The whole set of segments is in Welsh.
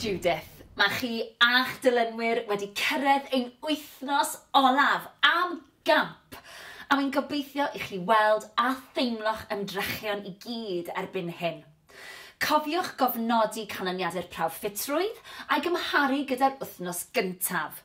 Judith, mae chi a'ch dilynwyr wedi cyrraedd ein wythnos olaf am gamp, a wy'n gobeithio i chi weld a theimlo'ch ymdrechion i gyd erbyn hyn. Cofiwch gofnodi canlyniadau'r prawf ffitrwydd a'i gymharu gyda'r wythnos gyntaf.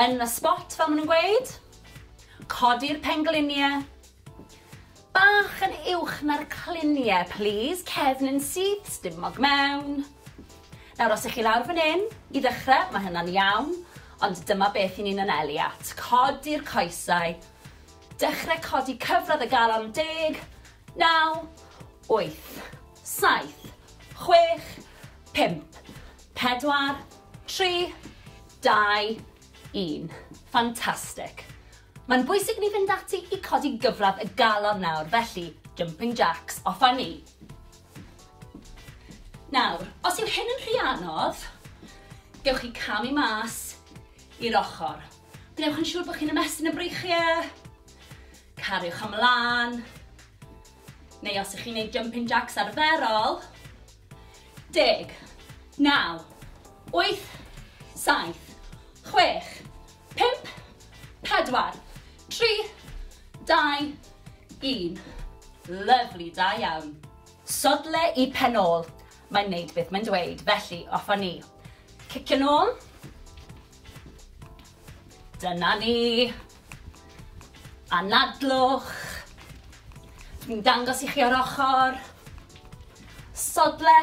Yn y spot fel ma' nhw'n gweud. Codi'r penglinie. Bach yn uwch na'r clinie plîs, cefn yn syth, stumog mewn. Nawr os 'ych chi lawr fan 'yn, i ddechre, ma' hynna'n iawn, ond dyma beth 'yn ni'n anelu at. Codi'r coesau. Dechre codi cyfradd y galon yn deg. Naw. Wyth. Saith. Chwech. Pump. Pedwar. Tri. Dau. Un. Fantastic. Mae'n bwysig ni fynd ati i codi gyfradd y galon nawr, felly jumping jacks, off â ni. Nawr, os yw hyn yn rhy anodd, gewch chi camu mas i'r ochr. Gwnewch yn siŵr bod chi'n ymestyn y breichiau, cariwch ymlaen, Neu os ych chi'n neud jumping jacks arferol, deg, naw, wyth, saith, chwech, pump, pedwar, tri, dau, un. Lyfli, da iawn. Sodle i pen ôl. Mae'n neud beth mae'n dweud, felly off â ni. Cicio nôl. Dyna ni. Anadlwch. Dwi'n dangos i chi o'r ochr. Sodle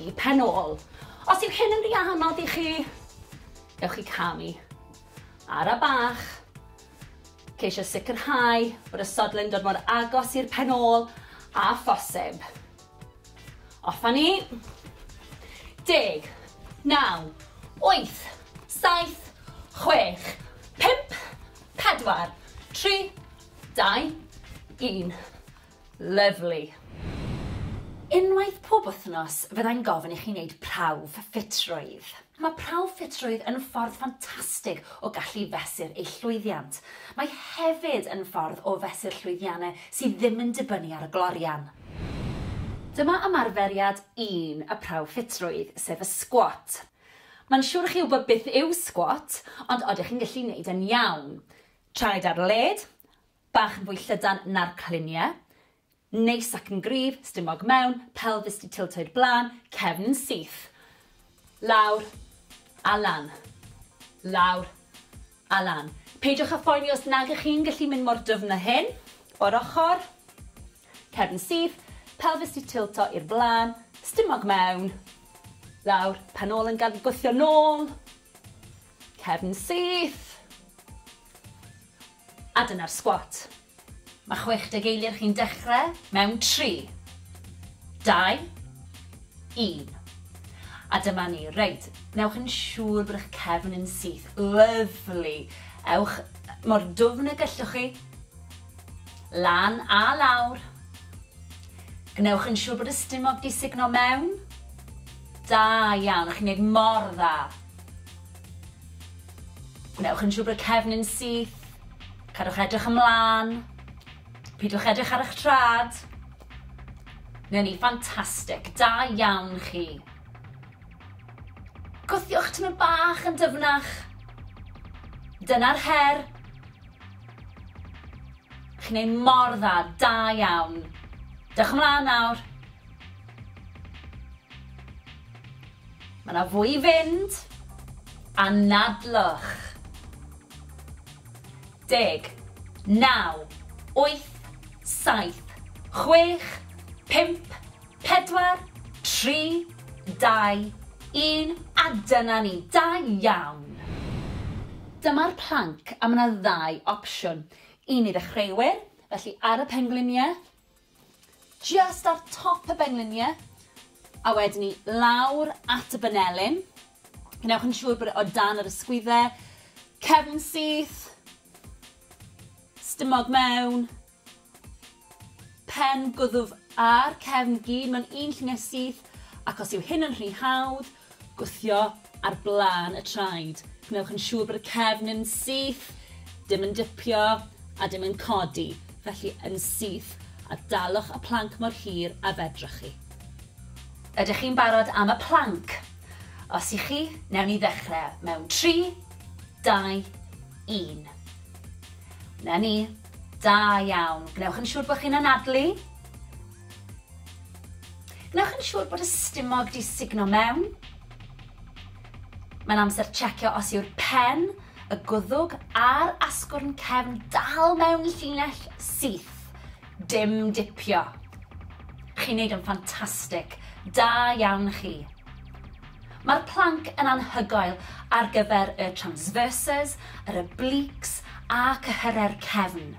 i pen ôl. Os yw hyn yn rhy anodd i chi, gewch chi camu. Ara bach. Ceisio sicrhau bod y sodle'n dod mor agos i'r pen ôl a phosib. Off a ni. Deg. Naw. Wyth. Saith. Chwech. Pump. Pedwar. Tri. Dau. Un. Lyfli. Unwaith pob wythnos fyddai'n gofyn i chi wneud prawf ffitrwydd. Mae prawf ffitrwydd yn ffordd ffantastig o gallu fesur eich llwyddiant. Mae hefyd yn ffordd o fesur llwyddiannau sydd ddim yn dibynnu ar y glorian. Dyma ymarferiad un y prawf ffitrwydd, sef y sgwat. Mae'n siwr i chi wybod beth yw sgwat, ond odych chi'n gallu neud e'n iawn? Traed ar led, bach yn fwy llydan na'r cliniau, Neis ac yn gryf, stumog mewn, pelfis 'di tiltoi'r blaen, cefn yn syth. Lawr a lan. Lawr a lan. Peidiwch â phoeni os nag ych chi'n gallu mynd mor dyfn â hyn. O'r ochr. Cefn yn syth, pelfis 'di tilto i'r blaen, stumog mewn. Lawr, pen ôl yn gad gwthio nôl. Cefn syth. A dyna'r sgwat. Mae 60 eiliad chi'n dechrau mewn 3, 2, 1. A dyma ni. Reit, newch yn siŵr bod eich cefn yn syth. Lyfli. Ewch mor dwfn y gellwch chi. Lan a lawr. Gwnewch yn siŵr bod y stumog di sugno mewn. Da iawn, chi'n neud mor dda. Gwnewch yn siŵr bod y cefnyn syth. Cadwch edrych ymlaen. Pidwch edrych ar eich trad. Neu ni, ffantastig. Da iawn chi. Gwthiwch tymor bach yn dyfnach. Dyna'r her. Chi'n ei mor dda, da iawn. Dewch ymlaen nawr. Mae 'na fwy i fynd. Anadlwch. Deg. Naw. Wyth. Saith. Chwech. Pump. Pedwar. Tri. Dau. Un. A dyna ni. Da iawn! Dyma'r planc a mae 'na ddau opsiwn. Un i ddechreuwyr, felly ar y pengliniau, Jyst ar top y benglinie a wedyn 'ny lawr at y banelyn. Gwnewch yn siŵr bod e o dan yr ysgwydde. Cefn syth. Stumog mewn. Pen gwddw ar cefn gyd mewn un llunie syth ac os yw hyn yn rhy hawdd, Gwthio ar blaen y traed. Gwnewch yn siŵr bod y cefn yn syth, dim yn dipio a dim yn codi, felly yn syth, a dalwch y planc mor hir a fedrwch chi. Ydych chi'n barod am y planc? Os y'ch chi, newn ni ddechrau mewn tri, dau, un. 'Na ni. Da iawn. Gwnewch yn siŵr bod chi'n anadlu. Wnewch yn siŵr bod y stumog di sugno mewn. Mae'n amser checio os yw'r pen, y gwddwg a'r asgwrn cefn dal mewn llinell syth. Dim dipio. Chi'n neud yn ffantastig. Da iawn chi. Mae'r planc yn anhygoel ar gyfer y transverses, yr obliques a cyhyrau'r cefn.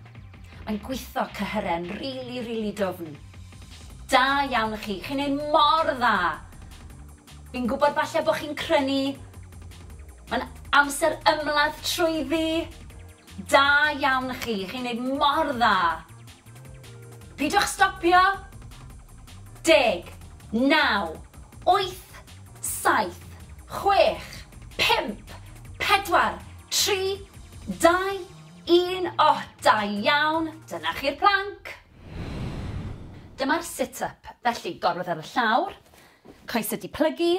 Mae'n gwitho cyhyren rili rili dwfn. Da iawn i chi, chi'n neud mor dda! Fi'n gwybod falle bod chi'n crynu, mae'n amser ymladd trwyddi! Da iawn i chi, chi'n neud mor dda! Pidwch stopio! Deg, naw, wyth, saith, chwech, pump, pedwar, tri, dau, Un oh da iawn! Dyna chi'r plank! Dyma'r sit up, felly gorwedd ar y llawr, coesau di plygu,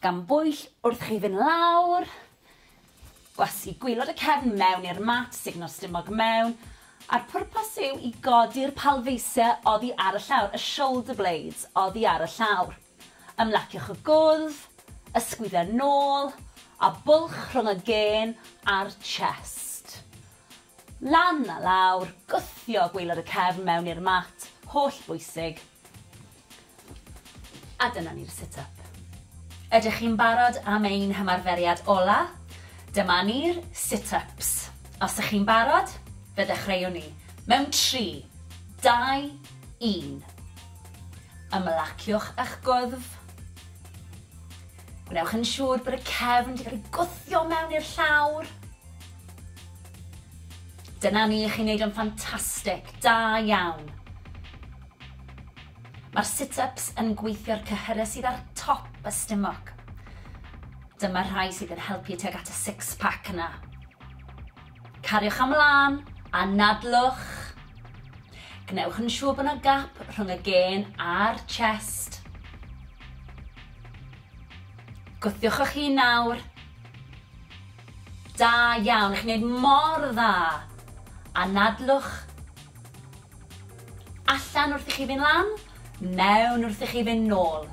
gan bwyll wrth chi fynd lawr, gwasgu gwylod y cefn mewn i'r mat, sugno'r stumog mewn, a'r pwrpas yw i godi'r palfeisiau oddi ar y llawr, y shoulder blades oddi ar y llawr. Ymlaciwch y gwddf, ysgwyd a nôl, a bwlch rhwng y gên a'r chest. Lan a lawr, gwthio gwaelod y cefn mewn i'r mat, holl bwysig. A dyna ni'r sit up. Ydych chi'n barod am ein hymarferiad ola? Dyma ni'r sit ups. Os ych chi'n barod, fe ddechreuwn ni. Mewn tri, dau, un. Ymlaciwch â'ch gwddf. Gwnewch yn siŵr bod y cefn wedi cael ei gwthio mewn i'r llawr. Dyna ni, chi'n neud o'n ffantastig, da iawn. Mae'r sit-ups yn gweithio'r cyhyrau sydd ar top y stumog. Dyma'r rhai sydd yn helpu tuag at y six-pack yna. Cariwch am lân, anadlwch. Gwnewch yn siŵr bod yna gap rhwng y gên a'r chest. Gwthiwch eich hun nawr. Da iawn, chi'n gwneud mor dda. Anadlwch. Allan wrth i chi fynd lan, mewn wrth i chi fynd nôl.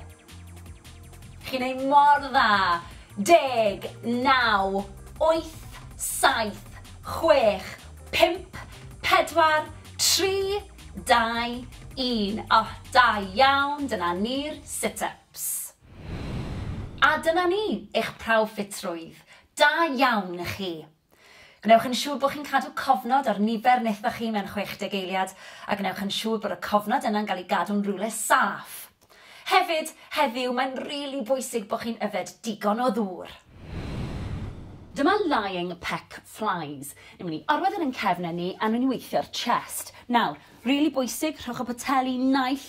Chi'n neud mor dda! Deg, naw, wyth, saith, chwech, pump, pedwar, tri, dau, un. O, da iawn, dyna ni'r sit-ups. A dyna ni, eich prawf ffitrwydd. Da iawn i chi. Gwnewch yn siŵr bod chi'n cadw cofnod ar nifer nethoch chi mewn 60 eiliad, a gwnewch yn siŵr bod y cofnod yna'n cael ei gadw'n rywle saff. Hefyd, heddiw, mae'n rili bwysig bod chi'n yfed digon o ddŵr. Dyma lying peck flies. Ni'n mynd i orwedd yn ein cefnau ni a ni'n mynd i weithio'r chest. Nawr, rili bwysig, rhowch y poteli naill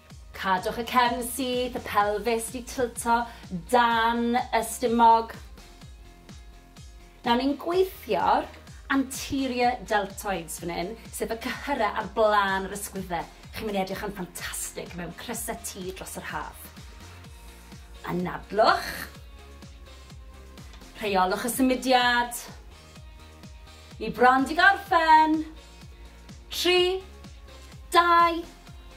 Cadwch y cefn syth, y pelfis 'di tilto dan y stumog. Nawr ni'n gweithio'r anterior deltoids fan hyn, sef y cyhyrau ar blaen yr ysgwyddau. Chi'n mynd i edrych yn ffantastig mewn crysau T dros yr haf. Anadlwch. Rheolwch y symudiad. Ni bron 'di gorffen. Tri, dau,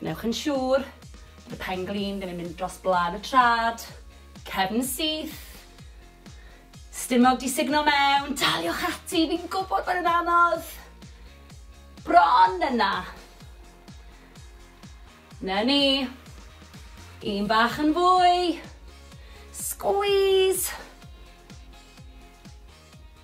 Gwnewch yn siŵr bod y pen glin ddim yn mynd dros blaen y trad, cefn syth, stumog di sugno mewn, daliwch ati, fi'n gwybod bod yn anodd. Bron yna. Na ni. Un bach yn fwy. Squeeze.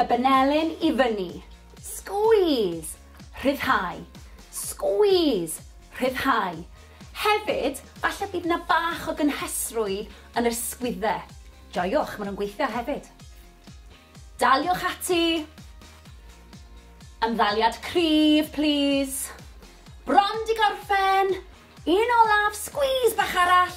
Y benelin i fyny. Squeeze! Rhyddhau. Squeeze! Rhyddhau. Hefyd, falle bydd yna bach o gynhesrwydd yn yr sgwydde. Joiwch, maen nhw'n gweithio hefyd. Daliwch ati. Ymddaliad cryf, plîs. Bron di gorffen. Un olaf, squeeze bach arall.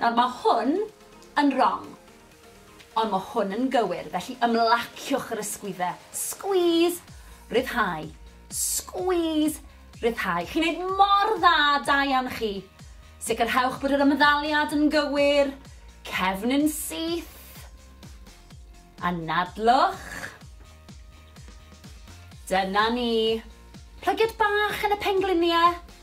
Nawr mae hwn yn rong. Ond mae hwn yn gywir, felly ymlaciwch yr ysgwydde. Squeeze! Rhyddhau. Squeeze! Rhyddhau. Chi'n neud mor dda, da iawn chi. Sicrhewch bod yr ymddaliad yn gywir. Cefn yn syth. Anadlwch. Dyna ni. Plygiad bach yn y pengliniau.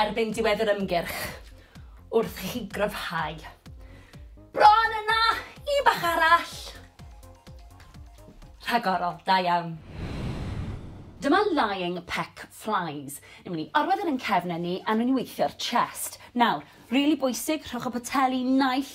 erbyn diwedd yr ymgyrch wrth i chi gryfhau. Bron yna! Un bach arall! Rhagorol, da iawn. Dyma lying peck flies. Ni'n mynd i orwedd yn ein cefnau ni a ni'n mynd i weithio'r chest. Nawr, rili bwysig, rhowch y poteli naill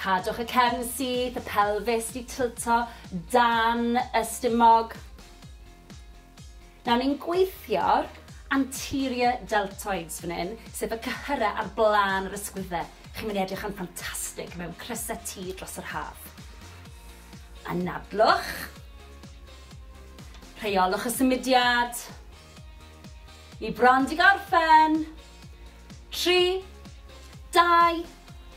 Cadwch y cefn syth, y pelfis di tilto dan y stumog. Nawr ni'n gweithio'r anterior deltoids fan hyn, sef y cyhyrau ar blaen yr ysgwyddau. Chi'n mynd i edrych yn ffantastig mewn crysau T dros yr haf. Anadlwch. Rheolwch y symudiad. Ni bron di gorffen. Tri, dau,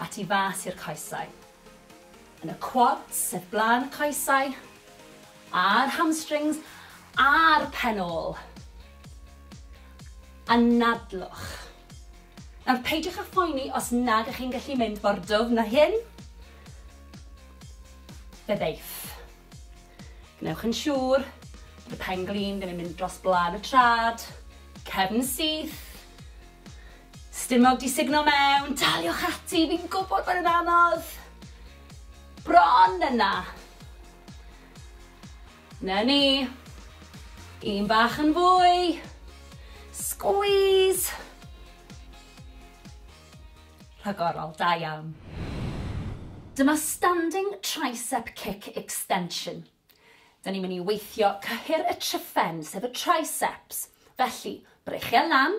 a tu fas i'r coesau. Yn y quads, sef blaen y coesau, a'r hamstrings, a'r pen ôl. Anadlwch. Nawr, peidiwch â phoeni os nag ych chi'n gallu mynd mor dwfn na hyn. Fe ddeiff. Gwnewch yn siŵr bod y pen glin ddim yn mynd dros blaen y trad, cefn syth, Stumog 'di sugno mewn! Daliwch ati, fi'n gwybod bod e'n anodd! Bron yna! Na ni! Un bach yn fwy! Squeeze! Rhagorol, da iawn. Dyma Standing Tricep Kick Extension. Da ni'n mynd i weithio cyhyr y tryphen, sef y triceps. Felly, breichiau lan,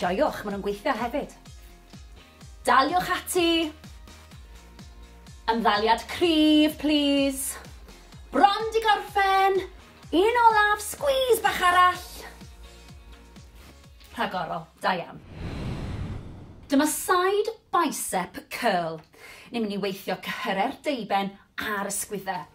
Joiwch, maen nhw'n gweithio hefyd. Daliwch ati! Ymddaliad cryf, plis. Bron di gorffen! Un olaf, squeeze bach arall! Rhagorol, da iawn. Dyma side bicep curl. Ni'n mynd i weithio cyhyrau'r deuben a'r ysgwyddau.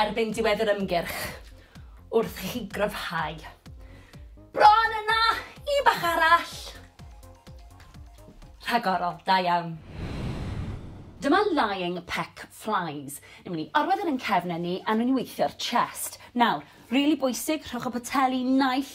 erbyn diwedd yr ymgyrch wrth i chi gryfhau. Bron yna! Un bach arall! Rhagorol, da iawn. Dyma lying peck flies. Ni'n mynd i orwedd yn ein cefnau ni a ni'n mynd i weithio'r chest. Nawr, rili bwysig, rhowch y poteli naill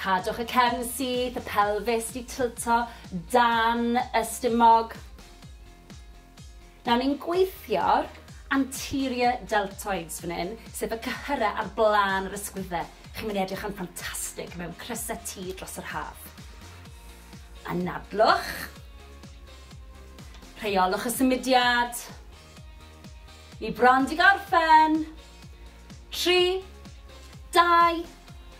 Cadwch y cefn syth, y pelfis di tilto dan y stumog. Nawr ni'n gweithio'r anterior deltoids fan hyn, sef y cyhyrau ar blaen yr ysgwyddau. Chi'n mynd i edrych yn ffantastig mewn crysau T dros yr haf. Anadlwch. Rheolwch y symudiad. Ni bron di gorffen. Tri, dau,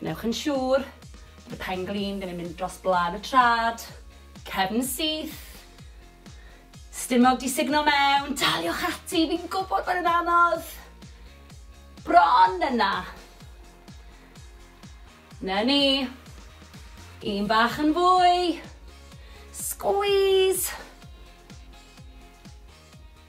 Gwnewch yn siŵr bod y pen glin ddim yn mynd dros blân y trad, cefn syth, stumog di sugno mewn, daliwch ati, fi'n gwybod bod yn anodd, bron yna. Na ni, un bach yn fwy, squeeze,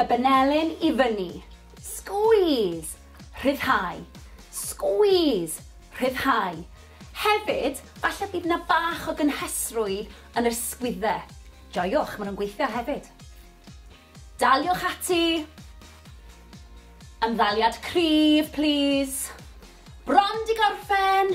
Y benelin i fyny. Squeeze! Rhyddhau. Squeeze! Rhyddhau. Hefyd, falle bydd 'na bach o gynhesrwydd yn yr sgwydde. Joiwch, maen nhw'n gweithio hefyd. Daliwch ati. Ymddaliad cryf, plîs. Bron 'di gorffen!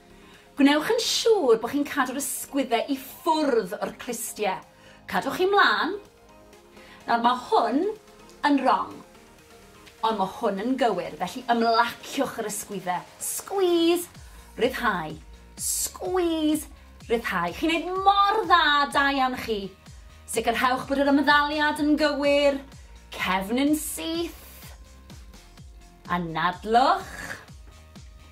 Gwnewch yn siŵr bod chi'n cadw'r ysgwyddau i ffwrdd o'r clustiau. Cadwch chi mlaen. Nawr, mae hwn yn rong. Ond mae hwn yn gywir, felly ymlaciwch yr ysgwyddau. Squeeze, ryddhau. Squeeze, ryddhau. Chi'n neud mor dda, da iawn chi. Sicrhewch bod yr ymddaliad yn gywir. Cefn yn syth. Anadlwch.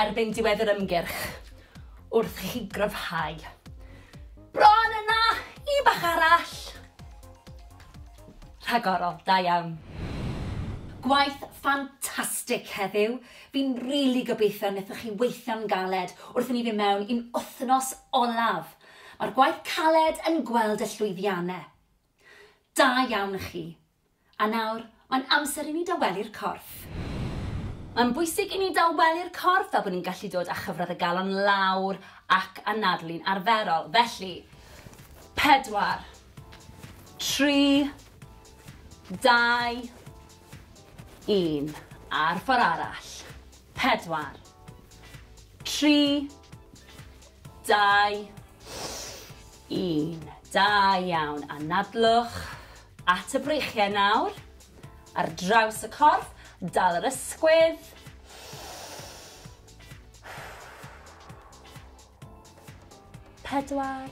erbyn diwedd yr ymgyrch wrth i chi gryfhau. Bron yna! Un bach arall! Rhagorol, da iawn. Gwaith ffantastig heddiw. Fi'n rili gobeithio nethoch chi weithio'n galed wrth i ni fyn' mewn i'n wthnos olaf. Ma'r gwaith caled yn gweld y llwyddiane. Da iawn i chi. A nawr, mae'n amser i ni dawelu'r corff. Mae'n bwysig i ni dawelu'r corff fel bod ni'n gallu dod â chyfradd y galon lawr ac anadlu'n arferol. Felly, pedwar, tri, dau, un. A'r ffordd arall. Pedwar, tri, Dau, un. Da iawn. Anadlwch at y breichiau nawr. Ar draws y corff, dal yr ysgwydd. Pedwar,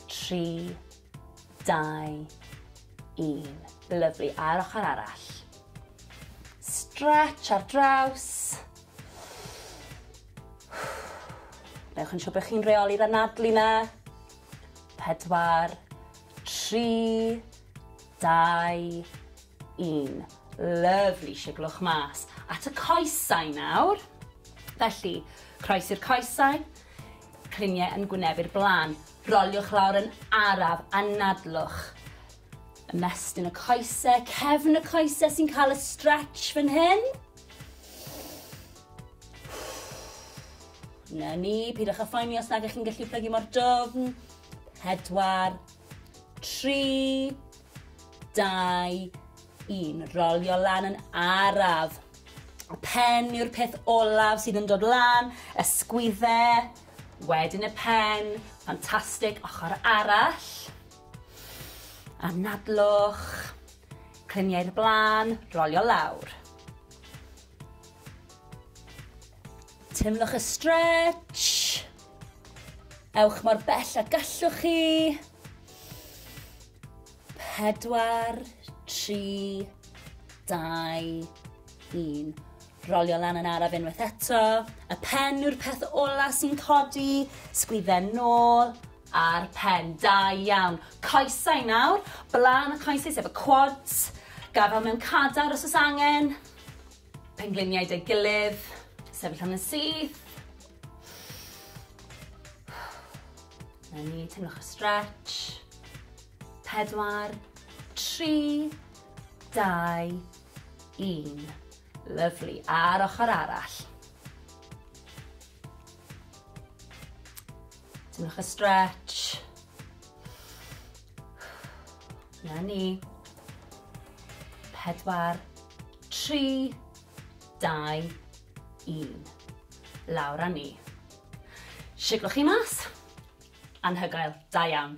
tri, dau, un. Lyflu. A'r ochr arall. Stretch ar draws. Newch yn siŵr bod chi'n reoli'r anadlu na. Pedwar, tri, dau, un. Lyfli, siglwch mas. At y coesau nawr. Felly, croes i'r coesau, cliniau yn gwynebu'r blaen. Roliwch lawr yn araf, anadlwch. Ymestyn y coesau, cefn y coesau sy'n cael y stretch fan hyn. Na ni, pidwch â phoeni os nag ych chi'n gallu plygu mor dofn. Pedwar, tri, dau, un. Rolio lan yn araf. Y pen yw'r peth olaf sydd yn dod lan, ysgwydde, wedyn y pen, ffantastig, ochr arall. Anadlwch, cliniau'r blaen, rolio lawr. Teimlwch y stretch. Ewch mor bell a gallwch chi. Pedwar, tri, dau, un. Rolio lan yn araf unwaith eto. Y pen yw'r peth ola sy'n codi. Sgwydden nôl a'r pen. Da iawn. Coesau nawr. Blaen y coesau sef y quads. Gafel mewn cadar os oes angen. Pengliniau 'da'i gilydd. Sefyll am yn syth. 'Na ni, teimlwch y stretch. Pedwar, tri, dau, un. Lyfli. A'r ochr arall. Teimlwch y stretch. Na ni. Pedwar, tri, dau, un. Lawr a ni. Siglwch chi mas. Anhygoel. Da iawn.